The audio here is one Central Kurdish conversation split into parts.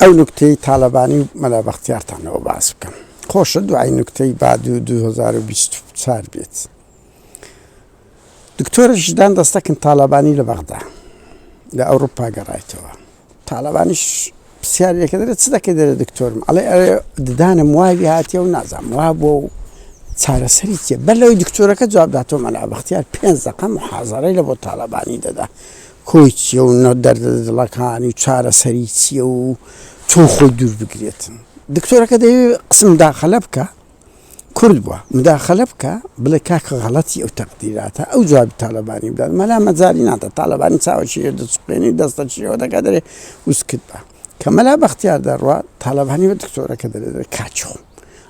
ئەو نوکتەی تالەبانی و مەلا بەختیارتانەوە باس بکەم خۆشە دوای نوکتەی باد و 2024 بێت دکتۆرە ژدان دەستەکن تالەبانی لە بەغدا لە ئەوروپا گەڕایتەوە تالەبانیش پرسیارێکە دەێت چ دەکەی دەێت دکتۆرم ئەڵێ ئەوێ ددانم وای هااتێ و نازام وا بۆ و چارەسەری چێ بەر لەوەی دکتۆرەکە جوابداتەوە مەلا بەختیار پێنج دەقە محازەرەی لە بۆ تالەبانی دەدا کۆی چیە و نە دەردە دڵەکانی و چارەسەری چیە و چۆن خۆی دوور بگرێت دکتۆرەکە دەیەوێ قسم مداخەلە بکا کورد بوە مداخەلە بکا بڵێ کاکە غەڵەتی ئەو تەقدیراتە ئەو جوابی تالەبانی بدات مەلا مەجالی نادات تالەبانی چاوە شیرە دەچخوێنی و دەستە شیرەوە دەکا دەرێ وسکت بە کە مەلا بەختیار دەڕوا تالەبانی بە دکتۆرەکە دەرێ دەرێ کاچۆ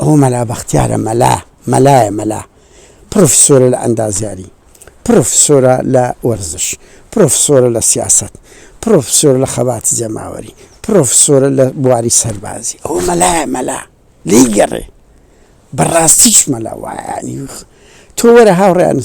ئەوە مەلا بەختیارە مەلا مەلایە مەلا پرۆفیسۆرە لە ئەندازیاری پڕۆفیسۆرە لە وەرزش، پڕۆفیسۆرە لە سیاسەت، پڕۆفیسۆرە لە خەباتی جەماوەری، پڕۆفیسۆرە لە بواری سەربازی. ئەوە مەلایە مەلا، لێی گەڕێ. بە ڕاستیش مەلا وایە. تۆ وەرە هاوڕێیان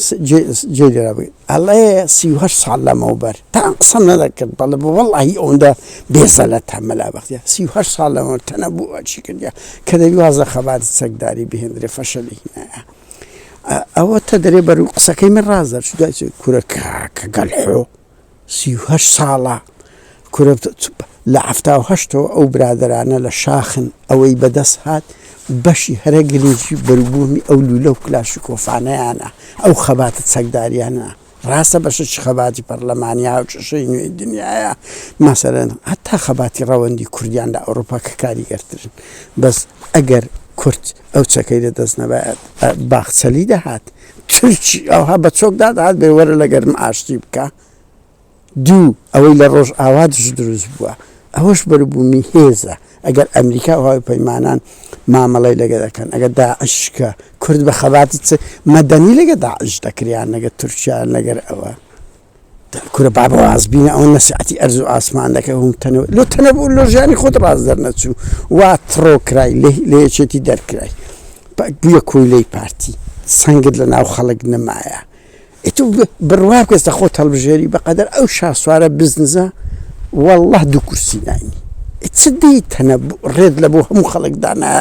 جێی لێ بگرە. ئەڵێ سی و هەشت ساڵ لەمەوبەر تان قسەم نەدەکرد، بەڵێ وەڵاهی ئەوەندە بێزەلەتە مەلا بەختیار. سی و هەشت ساڵ لەمەوبەر تەنەبووە چی کردیە کە دەبی واز لە خەباتی چەکداری بهێندرێ، فەشەلی هینایە. ئەوە تە دەرێ بەر و قسەکەی من ڕاز دەرچ دوای کورە کاکە گەلحۆ سی و هەشت ساڵە کورە لە عفتا و هەشتەوە ئەو برادرانە لە شاخن ئەوەی بەدەست هات بەشی هەرە گرنگی بەروبوومی ئەو لولە و کلاشی کۆفانەیانە ئەو خەباتە چەکداریانە ڕاستە بەشەکی خەباتی پەڕلەمانی هاوکێشەی نوێی دنیایە، مەسەلەن هەتا خەباتی ڕەوەندی کوردیان لە ئەوڕوپا کە کاریگەرترن، بەس ئەگەر کورد ئەو چەکەی لە دەست نەبایەت باخچەلی دەهات تورکی ئەوها بە چۆک دادەهات بێ وەرە لەگەرم ئاشتی بکە. دوو، ئەوەی لە ڕۆژئاوا دژ دروست بووە، ئەوەش بەروبوومی هێزە، ئەگەر ئەمریکا و هاوپەیمانان مامەڵەی لەگە دەکەن، ئەگەر داعش کە کورد بە خەباتی چ مەدەنی لەگە داعش دەکرد یان لەگە تورکیا یان لەگەر ئەوە، کورە با بەواز بینە، ئەوە نەسیعەتی ئەرز و ئاسمان دەکەن و تەنەبوو لۆ تەنەبوو لۆ ژیانی خۆت ڕاست دەرنەچوو وا تڕۆ کرای لە یەکێتی دەرکرای بوویە کۆیلەی پارتی سەنگت لە ناو خەڵک نەمایە. ئیتر بڕوا بکە ئێستا خۆت هەڵبژێری بەقەدەر ئەو شاسوارە بزنزە والله دوو کورسی ناینی چ دیتەنە ڕێت لە بۆ هەموو خەڵکدانا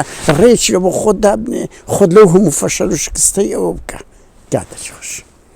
ڕێکی لە بۆ خۆت دابنێ خۆت لەو هەموو فەشەل و شکستەی ئەوە بکە گاتەخش